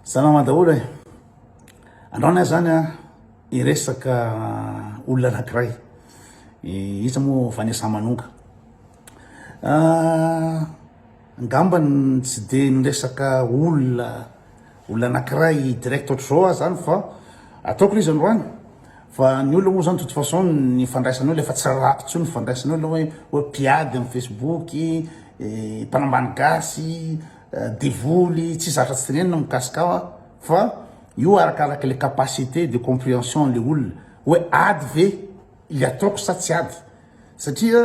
Salama daholo e. Andrao ny ahy zany a, hiresaka olona anankiray. Iza moa Vanessa Manonga. Ah, angamba tsy dia niresaka olona olona anankiray direct ohatr'izao aho zany fa ataoko le izy androany. Fa ny olona moa zany de toute façon ny ifandraisana eo efa tsy rarako intsony ny ifandraisana eo na hoe hoe mpiady amin'ny Facebook, mpanambany gasy. Devoly tsy zatra tsy tenenina mikasika aho a, fa io arakaraka le capacité de comprehension an'le olona hoe ady ve le ataoko sa tsy ady satria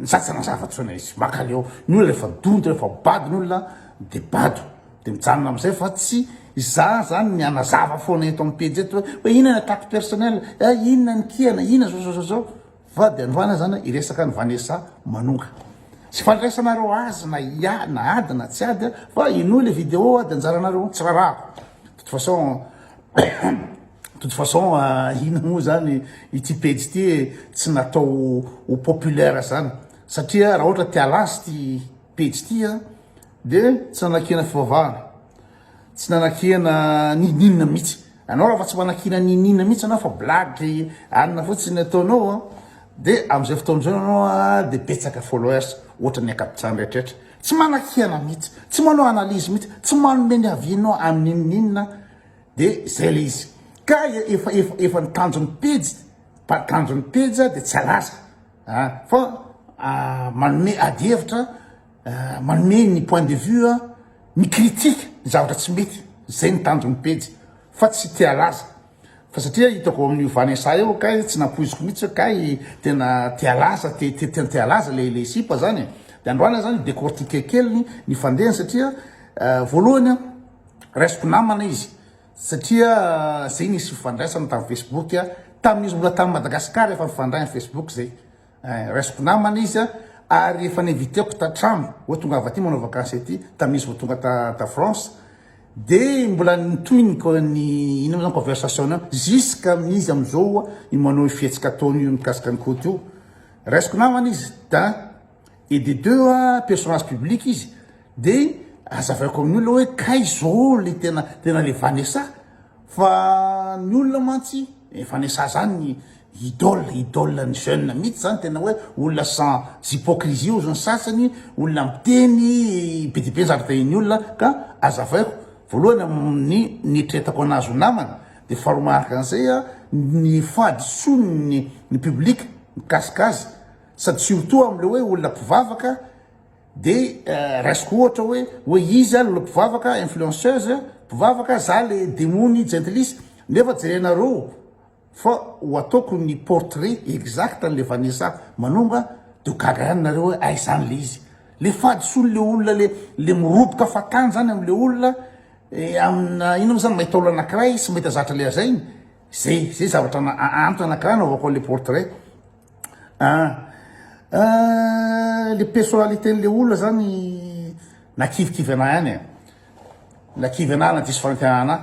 za tsy nanazava tsony le izy, makaleo ny olona refa donto refa bado ny olona de bado de mijanona amizay fa tsy za zany ny hanazava fona eto am pejy eto hoe inona ny attaque personnel a, inona ny kiana, inona zao zao zao zao. Vady androany aza na iresaka any Vanessa manonga Tsy fandraisanareo azy na ia na ady na tsy ady fa inoy le video ady anjaranareo tsy rarahako de toute façon toute façon ina moa zany ity pejy ity e tsy natao ho populaire zany satria raha ohatra te-alance ity pejy ity a de tsy nanakiana fivavahana Tsy nanakihana n'ininona mitsy anao raha fa tsy manakihana n'ininona mitsy anao fa blague anina fotsiny ny ataonao a de amzay fotoana zao anao a de betsaka followers ohatra ny ankabitrany rehetraretra tsy manakihana mitsy tsy manao analyse mitsy tsy manome ny avianao amin'inon'inona de zay le izy ka efa efa efa ny tanjon'ny pejy pa tanjon'ny pejy de tsy alaza a fa manome ady hevitra Manome ny point de vue a, mi-critique ny zavatra tsy mety, zay ny tanjon'ny pejy fa tsy te halaza. Fa satria hitako ao amin'io Vanessa io kay tsy nampoiziko mihitsy hoe kay tena te halaza, te te tena te halaza le le sipa zany e. De androany ah zany décortiquer kely ny fandehany satria voalohany a raisiko namana izy satria zay nisy fifandraisana tam Facebook a, tamin'izy mbola tany Madagascar efa nifandray am Facebook zay. Eh, raisiko namana izy ary efa ninviteko tatrano hoe tongava aty manao vakansy aty tamin'izy vao tonga ta ta France dia mbola nitohiny ko ny ino zany conversation an jusqu'à amin'izy amin'izao i manao fihetsika ataony io mikasika ny côte io raisiko namana izy da et de deux personnage public izy De azavaiko amin'io le hoe kay zao le tena tena le vanessa fa ny olona mantsy eh, vanessa zany idole idole ny jeune mihitsy zany tena hoe olona sans hypocrisie ozy ny sasany olona miteny be dia be ny zavatra iny olona ka azavaiko voalohany amin'ny nieritreretako anazy ho namana de faharoa manaraka an'izay a ny fahadisoan'ny ny public mikasika azy sady surtout am'le hoe olona mpivavaka Dia raisiko ohatra hoe hoe iza lolo mpivavaka influenceuse mpivavaka za le demony jentilisa nefa jerenareo fa ho ataoko ny portrait exact anle Vanessa Manonga de ho gaga ihany nareo hoe aiza any le izy le fahadisoany le olona le le miroboka fatany zany amle olona amina inona mo zany mahita olona anakiray sy mahita zatra le azainy zay zay zavatra antony anakiray anaovako anle portrait Le personnalité n'le olona zany nakivikivy anah ihany e, nakivy anah na diso fanantenana anah,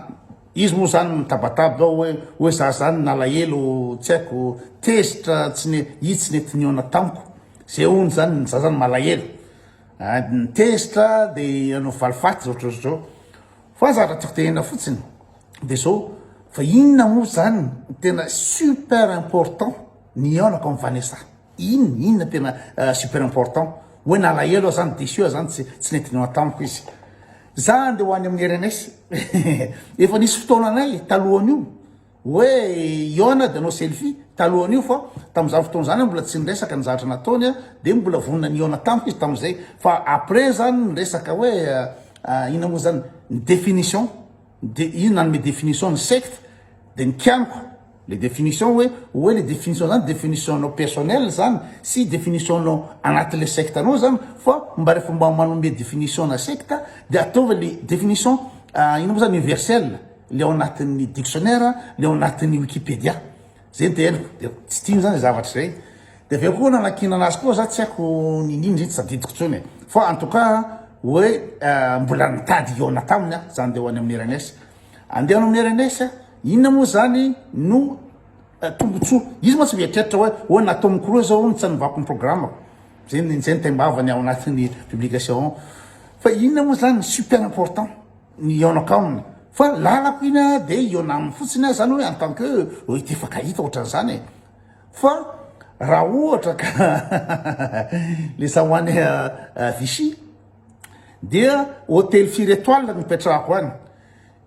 izy moa zany mitabataba hoe hoe za zany nalahelo tsy haiko tezitra tsy ne- izy tsy nety nihaona tamiko zay hono zany za zany malahelo, tezitra de hanao valifaty zao ohatrohatr'izao. Fa za raha tiako tenena fotsiny dia zao, fa inona moa zany no tena super important ny hihaonako amin'i Vanessa? Inona, inona tena super important? Hoe nalahelo aho zany, déçu aho zany, tsy tsy nety nihaona tamiko izy. Za andeha ho any amin'i Rns, efa nisy fotoananay talohan'io, Oe iona de no selfie talohan'io fa tamzany fotoana zany mbola tsy niresaka ny zavatra nataony a de mbola vonona ny iona tamiko izy tamzay fa après zany ny resaka oe ina mo zany ny definition de io nanome definition ny secte de ny kianiko le definition oe oe le definition zany definition nao personnel zany sy definition nao anatinle secte anao zany fa mba refa mba manome definition na secte de ataovy le definition ina mo zany universel. le ao anatin'ny dictionnaire, le ao anatin'ny wikipedia, zay ny teheniko, de tsy tiany zany zay zavatra zay, de avy eo koa nanakinana azy koa za tsy haiko niniana izy iny tsy tadidiko intsony e, fa en tout cas hoe mbola nitady hihaona taminy aho, zany de ho any amin'ny rns, andeha ho any amin'ny rns, inona moa zany no tombotsoa, izy moa tsy mieritreritra hoe hoe na tom cruise zao no tsy anovako ny programako, zay ny zay ny taim-bavany ao anatin'ny publication ao, fa inona moa zany ny super important. ny hiaonako aminy fa lalako iny a de hiona aminy fotsiny ah zany hoe en tant que hoe tefakahita ohatran'izany e fa raha ohatra ka le sahoany Vichy dia hôtely firy étoile no ipetrahako any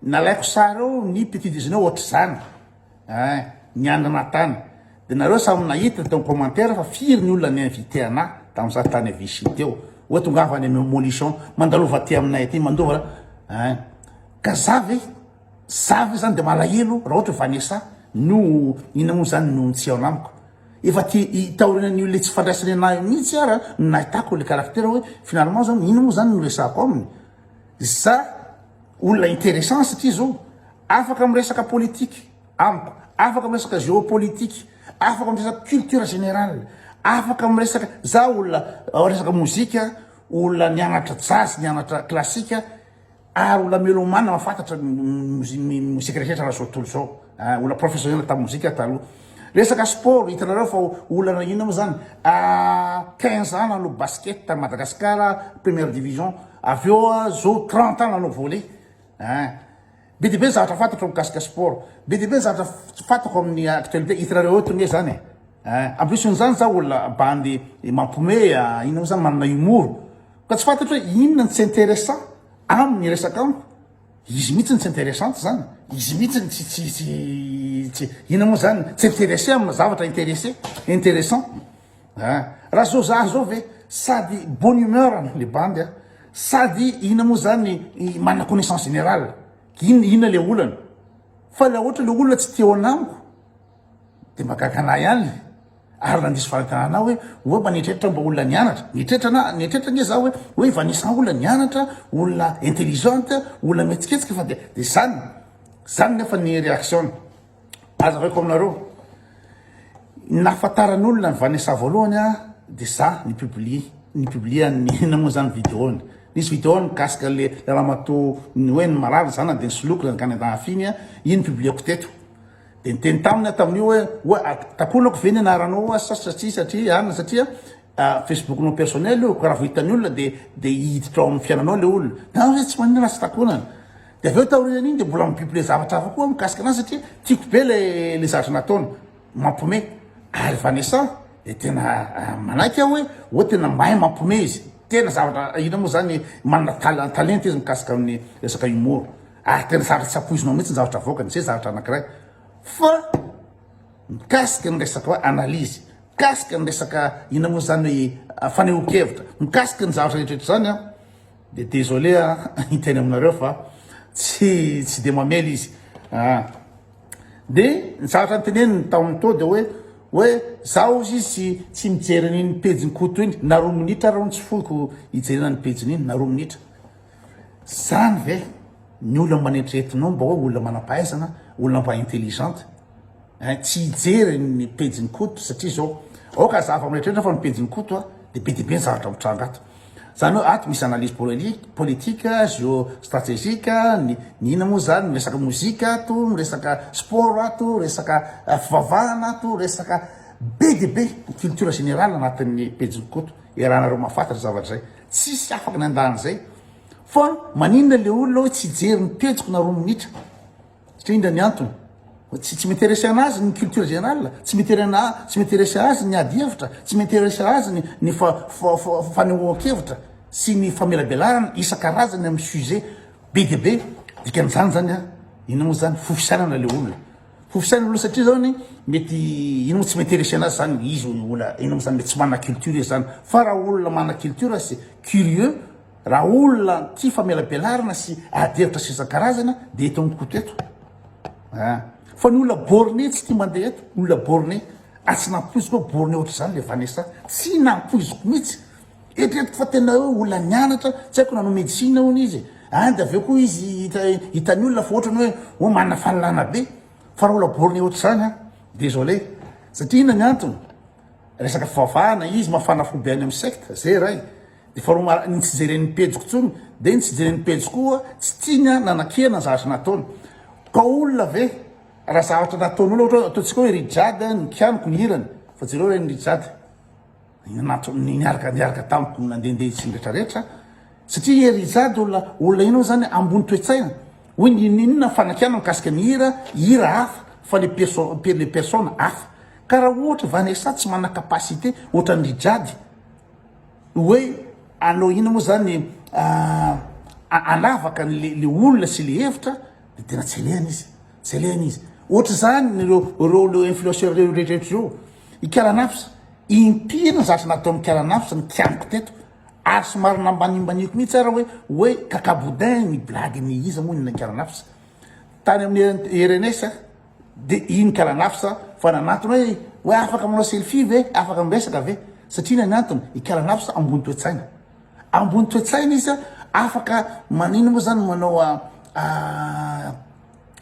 nalaiko sary ao ny petit déjeuner ohatr'izany Eh ny any Natana de nareo samy nahita teo commentaire fa firy ny olona ni invite ana tam za tany Vichy teo oe tongava any am molichon mandalova aty aminay aty mandova ra eh ka za ve za ve zany de malahelo ra ohatry Vanessa no ina mo zany no tsy ao amiko efa ty taorianany olona tsy fandraisany ana mitsy ara no nahitako le caractère oe finalement zany ina mo zany no resako aminy za Olona interessant satria zao afaka miresaka politique amiko, afaka miresaka géopolitique, afaka miresaka culture générale, afaka miresaka za olona resaka mozika, olona nianatra jazz, nianatra classique ary olona melomane mahafantatra ny mozika rehetra raha zao tontolo zao. Ah, olona professionnel tamin'ny mozika taloha. Resaka sport, hitanareo fa olana inona moa zany? Ah, 15 ans nanao basket tamin'ny Madagascar, première division. Avy eo ah, zao 30 ans nanao volley. Ah. Be dia be ny zavatra fantatro mikasika sport. Be dia be ny zavatra fantako amin'ny actualité. Hitanareo eto ny zany. Ah, en plus n'izany za olona bandy mampiomehy, ah, inona moa zany manana humour. Ka tsy fantatro hoe inona no tsy intéressant amin'ny resaka amiko. Izy mihitsy no tsy interessante zany. Izy mihitsy no tsy tsy tsy tsy ina moa zany tsy intéressé amina zavatra intéressé intéressant. Ah, raha zao za zao ve sady bonne humeur no le bandy a sady ina moa zany manana connaissance générale. Ina ina le olana? Fa la ohatra le olona tsy te ao anamiko. Dia mahagaga anah ihany le. Ary nandiso fanontana anah hoe oa mba nieritreritra mba olona nianatra? Nieritreritra anah, nieritreritra ange zah hoe hoe Vanessa olona nianatra, olona intelligente, olona mihetsiketsika fa dia dia zany, zany nefa ny reaction-ny. Hazavaiko aminareo, ny nahafataran'olona an'i Vanessa voalohany ah dia zah ni-publier, ni-publier an'i inona moa zany video-ny, nisy video mikasika le ramatoa ny hoe ny marary ny zanany dia nisoloky ny angaha nendahafiny ah, iny publier-ko teto. Dia niteny taminy aho tamin'io hoe, Oa, takonako ve ny anaranao oa sa satria satria arina satria Facebook-nao personnel io ka raha vao hitan'ny olona dia dia hiditra ao amin'ny fiainanao ilay olona. Dia aho hoe tsy maninona raha tsy takonana. Dia avy eo taorian'iny dia mbola mi-publier zavatra hafa koa mikasika anazy satria tiako be ilay ilay zavatra nataony. Mampome. Ary Vanessa dia tena manaiky aho hoe oa tena mahay mampome izy. Tena zavatra inona moa izany manana talenta izy mikasika amin'ny resaka humour. Ary tena sarotra tsy ampoizinao mihitsy ny zavatra avoakany, izay zavatra anankiray. Fa mikasika ny resaka hoe analyse, mikasika ny resaka inona moa izany hoe ah, fanehoan-kevitra, mikasika ny zavatra rehetra izany an, dia désolé an, hiteny aminareo fa tsy tsy dia mamely izy. Ah. Dia ny zavatra niteneniny tamin'ny to dia hoe hoe zaho izy tsy tsy mijery an'iny pejin'i Koto iny, na roa minitra ary tsy foiko hijerena ny pejin'iny na roa minitra. Zany ve ny olona manetretinao mba hoe olona manampahaizana, olona mba intelligente eh, tsy hijery ny pejin'i Koto satria zao aoka azava miretreritra fa ny pejin'i Koto a de be de be ny zavatra mitranga ato. Zany hoe ato misy analyse polelique, politique, géostratégique, ny ny ina moa zany, miresaka mozika ato, miresaka sport ato, resaka fivavahana ato, resaka be de be culture générale anatin'ny pejin'i Koto, iarahanareo mahafantatra zavatra zay. Tsisy afaka nandà an'izay fa maninona le olona hoe tsy hijery ny pejiko na roa minitra satria indra ny antony tsy tsy m'intéresser anazy ny culture générale tsy m'intéresser ana tsy m'intéresser azy ny ady hevitra tsy m'intéresser azy ny ny fa fa fa fanehoan-kevitra sy ny famelabelarana isan-karazany amin'ny sujet be dia be dikan'izany zany a inona moa zany fo fisainana le olona Ho fisain'ny olona satria zany mety ino moa tsy mety resia anazy zany izy olona ino moa zany mety tsy manana culture izy zany fa raha olona manana culture sy curieux raha olona tia famelabelarana sy ady hevitra sy isan-karazana dia eto amiko koto eto a fa ny olona borné tsy tia mandeha eto olona borné ary tsy nampoiziko hoe borné ohatr'izany le Vanessa tsy nampoiziko mihitsy Eritreretiko fa tena hoe olona nianatra, tsy haiko nanao médecine hono izy e, any de avy eo koa izy hita hitan'ny olona fa ohatrany hoe oh manana fahalalana be, fa raha olona borné ohatr'izany an, désolé, satria inona ny antony, resaka fivavahana izy, mafana fo be any amin'ny secte, zay iray, de faharoa ma- ny tsy jeren'ny pejiko intsony, de ny tsy jeren'ny pejy koa tsy tiany an nanakihana ny zavatra nataony, ka olona ve raha zavatra nataon'olona ohatra hoe ataontsika hoe Rijade ny kianiko ny hirany, fa jereo re ny Rijade. niaraka niaraka tamiko ny nandehandeha itsiny rehetrarehetra satria hery izady olona olona ianao zany ambony toetsaina hoy ny ininona fanakiana mikasika ny hira hira hafa fa le perso le personne hafa ka raha ohatra Vanessa tsy manana capacité ohatra ny jady hoe anao ina moa zany ah, anavaka le le olona sy le hevitra de tena tsy alehany izy tsy alehany izy ohatra zany ireo ireo le influenceur ireo rehetrarehetra ireo ikaranafsa Inty ny zavatra nataon'i Mikala Nafs ny kianiko teto ary somary nambanimbaniako mihitsy ara hoe hoe kaka boudin ny blague ny iza moa ny Mikala Nafs tany amin'ny RNS de i Mikala Nafs fa nanantona hoe hoe afaka manao selfie ve afaka miresaka ve satria inona ny antony i Mikala Nafs ambony toe-tsaina ambony toe-tsaina izy afaka manino moa zany manao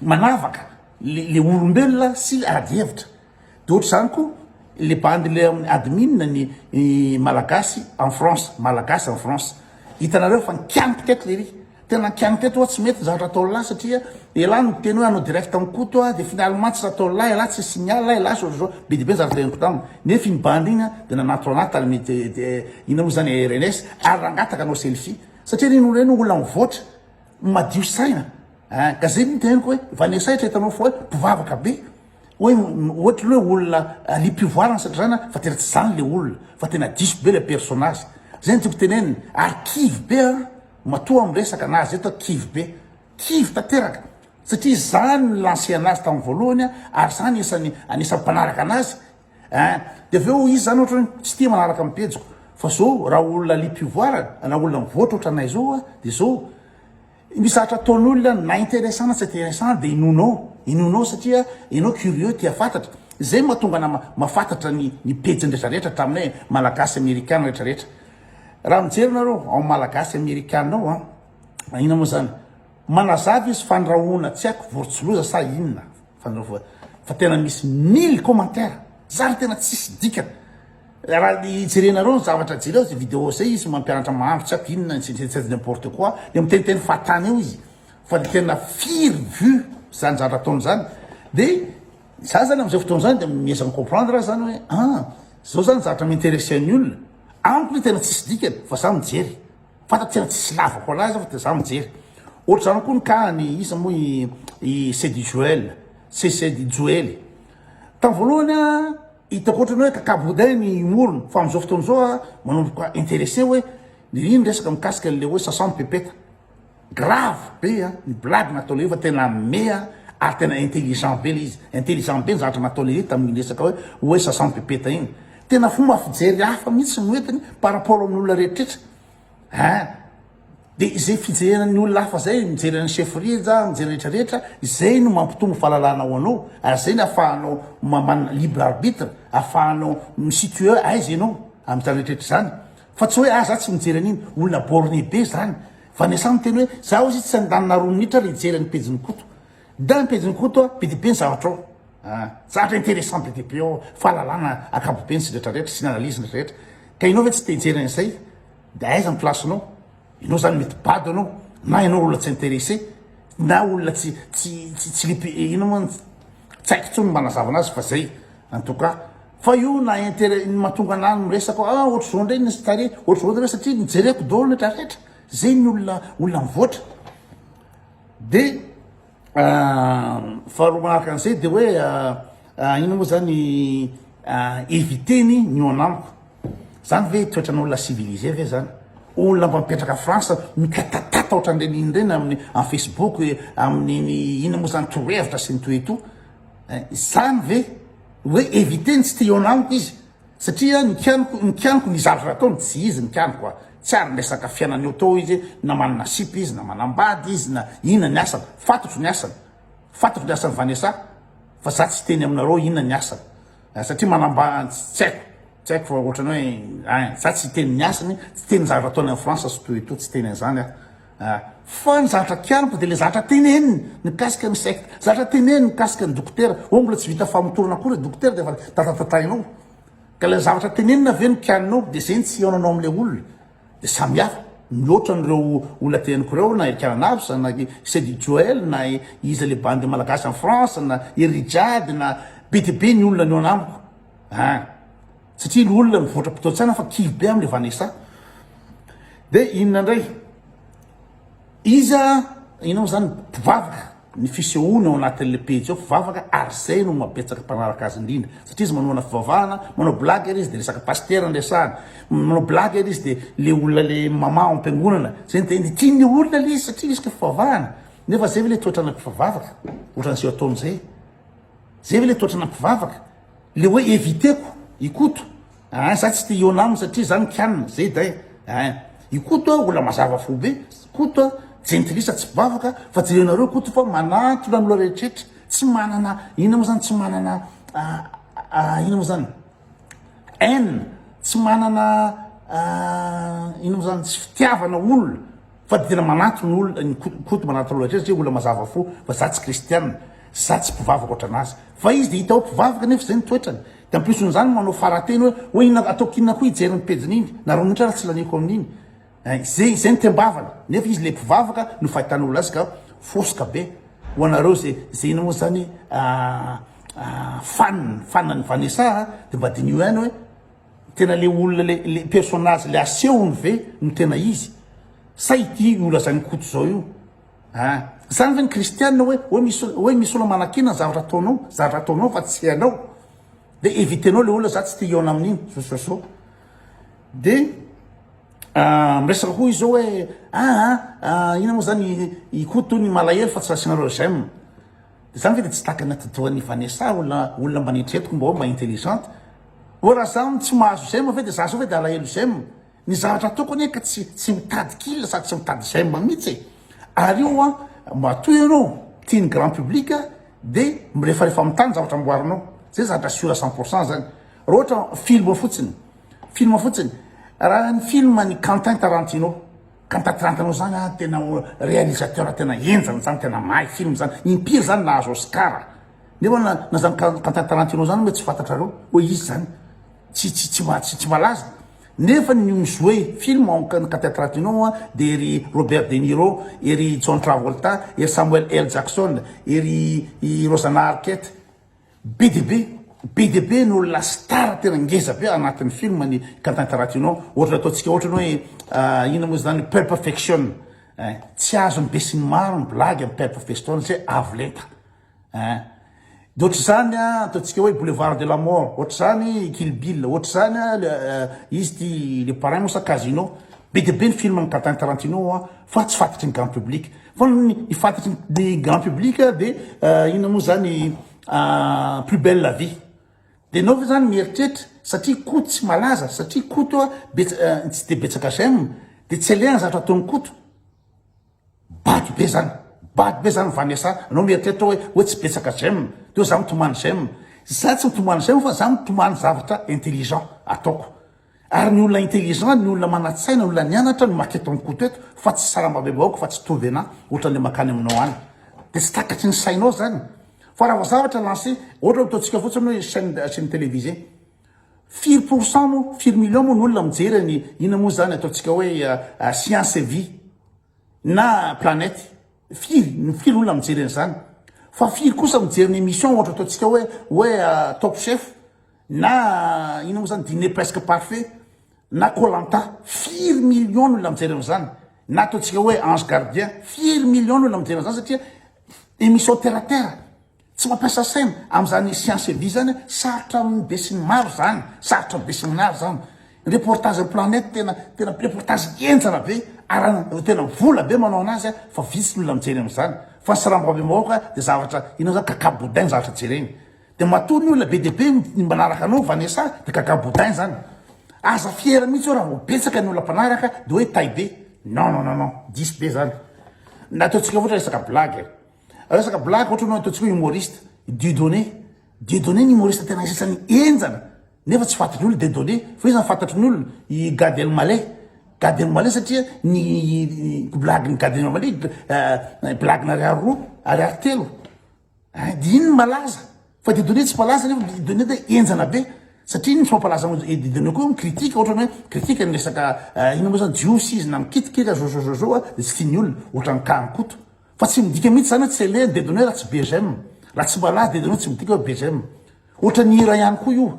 manavaka le olombelona sy ady hevitra De ohatry zany ko le bandy le admin ny malagasy en France malagasy en France hitanareo fa nikianiko teto lery tena nikianiko teto tsy mety zavatra ataony lahy satria elah no teny hoe anao direct am koto a de finaly mantsy ataony lahy elah tsy signal lahy elah so so be de be zavatra teneniko taminy nefa iny bandy iny a de nanatona anah tamin'ny inona mo zany rns ary nangataka anao selfie satria reny olona reny olona mivoatra madio saina a ka zay no teneniko hoe vanesahitra hitanao fa hoe mpivavaka be Hoe ohatry ny hoe olona alim-pivoarana satria zany fa tena tsy zany le olona fa tena diso be le personnage. Zay ny tiako tenenina ary kivy be an matoa miresaka na azy eto kivy be. Kivy tanteraka satria zany ny lancer anazy tamin'ny voalohany an ary zany isany anisan'ny mpanaraka anazy an de avy eo izy zany ohatra hoe tsy tia manaraka amin'ny pejiko fa zao raha olona alim-pivoarana na olona mivoatra ohatranay zao an de zao Misy zavatra ataon'olona na intéressant na tsy intéressant dia inoanao, inoanao satria ianao curieux tia fantatra. Izay mahatonga anà mahafantatra ny ny pejiny rehetra rehetra hatramin'ny hoe Malagasy Amerikana rehetra rehetra. Raha mijery nareo ao Malagasy Amerikana ao an, inona moa zany? Manazava izy fandrahoana tsy haiko vorontsiloza sa inona? Fa tena misy mille commentaires, zary tena tsisy dikany. Raha hijerenareo ny zavatra jereo zay video zay izy mampianatra mahandro tsy aiko inona tsy tsy tsy n'importe quoi dia miteniteny fahatany eo izy fa ny tena firy vue zany zavatra ataony zany dia za zany amin'izao fotoana zany dia miezaka mi-comprendre aho zany hoe ah zao zany zavatra mi-interesser ny olona amiko le tena tsisy dikany fa za mijery fantatro tena tsisy lavako anazy aho fa dia za mijery ohatra zany koa ny cas ny iza moa i i Sedy Joel c'est Sedy Joely tamin'ny voalohany a Hitako ohatran'ny hoe kakaboday ny morona fa amin'izao fotoana izao aho manomboka intéressé hoe ry ny resaka mikasika an'ilay hoe sasa mipepeta. Grave be ny blague natao lehifa tena meha ary tena intelligent be ilay izy. Intelligent be ny zavatra natao lehifa tamin'iny resaka hoe hoe sasa mipepeta iny. Tena fomba fijery hafa mihitsy no entiny par rapport amin'ny olona rehetra rehetra. eh de izay fijerena ny olona hafa zay mijery an'i chef rija mijery rehetra rehetra izay no mampitombo fahalalana ao anao ary zay ny afahanao mamanina libre arbitre afahanao misitue aiza ianao am'izany rehetrarehetra zany fa tsy hoe ah za tsy mijery an'iny olona borne be zany fa ny asany teny hoe za ozy tsy andanina roa minitra le hijery an'ny pejin'ny koto da ny pejin'ny koto a be de be ny zavatra ao Zatra interessant be dia be ao fahalalana ankapobeny sy rehetra rehetra sy ny analyse ny rehetra ka ianao ve tsy te hijery an'izay de aiza ny place nao ianao zany mety bado anao na ianao olona tsy interesse na olona tsy tsy tsy lipe ino moa tsy haiko tsony mba nazava anazy fa zay en tout cas fa io na intérêt ny matonga anah miresaka ah ohatry zao ndray ny stare ohatry zao ndray satria nijereko daholo ny retraretra zay ny olona olona mivoatra de Faharoa manaraka an'izay dia hoe inona moa zany eviter-ny ny eo anamiko. Zany ve toetran'olona civilisé ve zany? Olona mba mipetraka France mitatatata ohatran'ireny inona ireny amin'ny amin'ny Facebook, amin'iny inona moa zany torohevitra sy ny toy ny toa. Zany ve hoe eviter-ny tsy te eo anamiko izy? Satria ny kianiko, ny kianiko ny zandry rataony tsy izy ny kianiko a! Tsy ary miresaka fiainana eo teo izy na manana sipa izy na manambady izy na inona ny asany. Fantatro ny asany. Fantatro ny asan'i Vanessa fa za tsy hiteny aminareo inona ny asany a! Satria manamba, tsy haiko, tsy haiko fa ohatrany hoe, ein, za tsy hiteny ny asany, tsy hiteny ny zavatra ataony any France sy toy etoa, tsy hiteny an'izany aho. Ah. Fa ny zavatra kianiko dia ilay zavatra teneniny mikasika ny secte, zavatra teneniny mikasika ny dokotera. Ô mbola tsy vita famotorana akory ny dokotera dia efa tatatatainao. Ka ilay zavatra tenenina ve no kianinao dia izay ny tsy hihaonanao amin'ilay olona. Dia samy hafa. Mihoatra an'ireo olona teneniko ireo na i Kiananavsa na i Sedy Joel na iza ilay bandy malagasy any France na i Rijade na be dia be ny olona nihaona amiko. Ah. satria ny olona mivoatra mpitao-tsana fa kivy be amin'ilay Vanessa dia inona indray iza inao izany mpivavaka ny fisehoana ao anatin'ilay pejy ao mpivavaka ary izay no mabetsaka mpanaraka azy indrindra satria izy manohana fivavahana manao blague ary izy dia resaka pasitera ny resahana manao blague ary izy dia le olona le mama ao am-piangonana izay dia ny tian'ny olona le izy satria resaka fivavahana nefa izay ve le toetrana mpivavaka ohatran'izay ataony izay izay ve le toetrana mpivavaka Le hoe eviteko i Koto ah za tsy te hihaona aminy satria za mikianina zay day ah i Koto ah olona mazava fo be Koto ah jentilisa tsy mpivavaka fa jerenareo Koto fa manantona ny olona rehetraretra tsy manana inona moa zany tsy manana ah inona moa zany haine tsy manana ah inona moa zany tsy fitiavana olona Fa dia tena manato ny olona ny Koto manato loatra satria olona mazava fo fa za tsy kristiana sy za tsy mpivavaka ohatranazy fa izy dia hita ho mpivavaka nefa izay ny toetrany dia ampioson'izany manao farateny hoe hoe inona ataoko inona koa hijery ny pejiny iny na rony ohatra ary tsy laniako amin'iny eh, izay izay ny tembavana nefa izy le mpivavaka no fahitana olona azy ka foska be ho anareo izay izay inona moa izany ah, ah, fanina fanina ny vanessa ah, dia mba diniho ihany hoe Tena le olona le le personnage le asehony ve no tena izy sa ity nolazain'i Koto zao io a? Zany ve ny kristianina hoe hoe misy hoe misy olona manakiana ny zavatra ataonao zavatra ataonao fa tsy hainao de evitenao le olona za tsy te hihaona amin'iny zao zao zao de miresaka koa izy zao hoe aa ina moa zany i Koto ny malahelo fa tsy asianareo j'aime Za ve de tsy takana ty doany Vanessa olona olona mba neritreretiko mbao mba intelligente oh ra za no tsy mahazo j'aime ve de za zao ve de alahelo j'aime ny zavatra ataoko anie ka tsy tsy mitady kill sady tsy mitady j'aime mitsy e ary io an matoa ianao tiany grand public de mirefarefa amin'ny tany zavatra amboarinao zay zavatra sur cent pour cent zany ra ohatra film fotsiny film fotsiny raha ny film ny Quentin Tarantino Ka tatirantanao zany a tena realisateur tena henjana zany tena mahay film zany impiry zany nahazo oscar nefa na na zany ka quentin tarantino zany hoe tsy fantatrareo hoe izy zany tsy tsy tsy ma- tsy tsy malaza nefa ny mi-jouer film ao am- quentin tarantino a de ry robert de niro ery john travolta ery samuel l jackson ery i rosanna arquette Be dia be, be dia be ny olona star tena ngeza be anatin'ny film ny Quentin Tarantino, ohatra ataontsika ohatra ny hoe inona moa izany Pulp Fiction ein, tsy azon'ny besinimaro ny blagy amin'ny Pulp Fiction satria avo lenta ein, dia ohatra izany an ataontsika hoe Boulevard de la Mort, ohatra izany Kill Bill, ohatra izany an izy ity Le Parrain moa sa Casino, be dia be ny film an'i Quentin Tarantino an fa tsy fantatry ny grand public. Fa ny fatatry ny grand public dia inona moa zany plus belle la vie. Dia enao ve zany mieritreritra satria Koto tsy malaza, satria Koto tsy dia betsaka j'aime dia tsy aleha ny zavatra ataon'i Koto. Bado be zany, bado be zany Vanessa, anao mieritreritra hoe hoe tsy betsaka j'aime, teo za mitomany j'aime. Za tsy mitomany j'aime fa za mitomany zavatra intelligent ataoko. Ary ny olona intelligent, ny olona manatsaina, ny olona nianatra no maka eto am koto eto fa tsy sarambabem-bahoaka fa tsy tovy anah ohatran'le makany aminao any de tsy takatry ny sainao zany fa raha vao zavatra lancé ohatra hoe ataontsika fotsiny hoe chaine chaine télévisée firy pour cent moa firy million moa ny olona mijery ny ina moa zany ataontsika hoe science et vie na planète firy ny firy olona mijery an'izany fa firy kosa mijery ny émission ohatra ataontsika hoe hoe top chef Na inona moa zany diner presque parfait na koh lanta firy millions ny olona mijery an'izany na ataontsika hoe ange gardien firy millions ny olona mijery an'izany satria emission terre à terre tsy mampiasa saina amin'izany science vie zany sarotra amin'ny besinimaro zany sarotra amin'ny besinimaro zany reportage planète tena tena reportage henjana be arahana tena vola be manao anazy a fa vitsy ny olona mijery amin'izany fa ny sarambabem-bahoaka dia zavatra inona zany kakabodain zavatra jereny De matoa ny olona be dia be ny manaraka anao Vanessa de gaga boudin zany. Aza fiera mihitsy eo raha vao betsaka ny olona mpanaraka de hoe tay be. Non non non non diso be zany. Na ataontsika ohatra resaka blague e. Resaka blague ohatra anao ataontsika hoe humoriste Dieudonné. Dieudonné ny humoriste tena isan'ny henjana nefa tsy fatin'ny olona Dieudonné fa iza no fantatry ny olona? I Gad Elmaleh. Gad Elmaleh satria ny blague-n'i Gad Elmaleh blague-n'ny ariary roa, ariary telo. Ady iny malaza fa Dieudonné tsy malaza nefa Dieudonné dia henjana be satria ny tsy mampalaza an'i Dieudonné koa mi-critique ohatra hoe critique ny resaka eh, inona moa izany jiosy izy na mikitikika zozozozo a dia tsy tian'ny olona ohatra ny cas Koto fa tsy midika mihitsy izany hoe tsy alehan'i Dieudonné raha tsy BGM raha tsy malaza Dieudonné tsy midika hoe BGM ohatra ny hira ihany koa io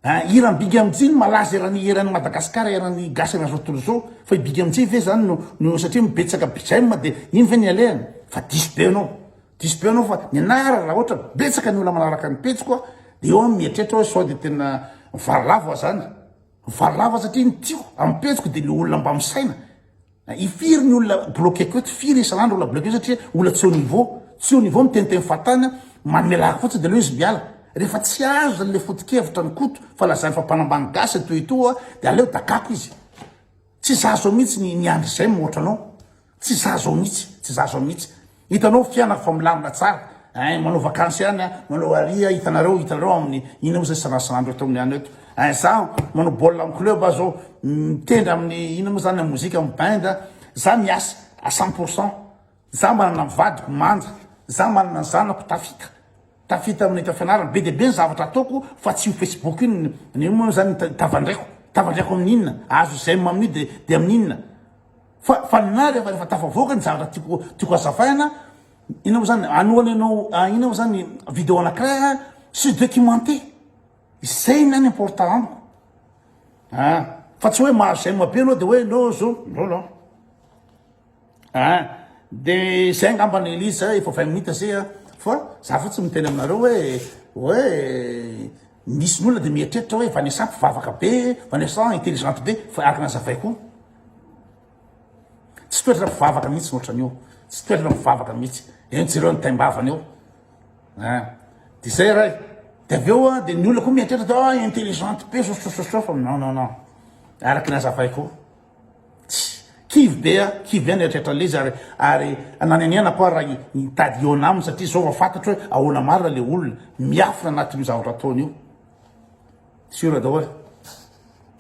Ahh hiran'i Big Amjy no malaza eran'ny eran'i Madagascar eran'ny gasy an'izao tontolo izao fa i Big Amjy ve zany no no satria mibetsaka bgm dia iny ve ny alehany fa diso be anao diso be anao fa ny anah ary raha ohatra betsaka ny olona manaraka ny pejiko a dia eo aho mieritreritra hoe sao dia tena mivarilavo aho zany mivarilavo aho satria ny tiako amin'ny pejiko dia le olona mba misaina I firy ny olona bloquer ko eto, firy isan andro olona bloquer satria olona tsy au niveau, tsy au niveau miteniteny fahatany, manome lahaky fotsiny de aleo izy miala, rehefa tsy azony le foto-kevitra an'i Koto fa lazany fa mpanambany gasy toa etoa de aleo dakako izy, tsy za zao mihitsy ny andry zay mihoatra anao, tsy za zao mihitsy, tsy za zao mihitsy, Hitanao fianako fa milamina tsara eh, manao vacances ihany ah, manao aria, hitanareo, hitanareo amin'ny inona moa zay sanasanandreo tao amin'ny any eto eh, za manao baolina amin'ny club ah zao, mitendry amin'ny inona moa zany, mozika amin'ny band ah, za miasa à cent pour cent, za manana ny vadiko manja, za manana ny zanako tafita, tafita amin'ny tafianarana, be dia be ny zavatra ataoko fa tsy io facebook io, ny inona moa zany ny tavandraiko, tavandraiko amin'ny inona, azo zay amin'io de de amin'ny inona. Fa fa ny ahy rehefa rehefa tafavoaka ny zavatra tiako tiako azavaina ina moa zany anohana ianao ah, ina moa zany video anankiray ah, sy documenté izay ny any important amiko a ah, fa tsy hoe mahazo zay mabe anao de hoe no zo no no a ah, de zay angamba ny elise efa vingt minutes zay a fa za fo tsy miteny aminareo hoe hoe misy ny olona de mieritreritra hoe vanessa mpivavaka be vanessa intelligente be fa araka nazavay koa Tsy toetra mpivavaka mihitsy ny ohatran'io. Tsy toetra mpivavaka mihitsy. Eny jereo ny taim-bavany eo. Ah. Dia izay ray. Dia avy eo dia ny olona koa mieritreritra dia ah intelligente be sososososofa. Non non non. Araka ny azavaiko. Tsy kivy be ah, kivy ihany eritreritra an'ilay izy ary ary nanenenako ah raha hitady hihaona aminy satria izao vao fantatro hoe ahoana marina ilay olona. Miafina anatin'io zavatra ataony io. Siora daholo.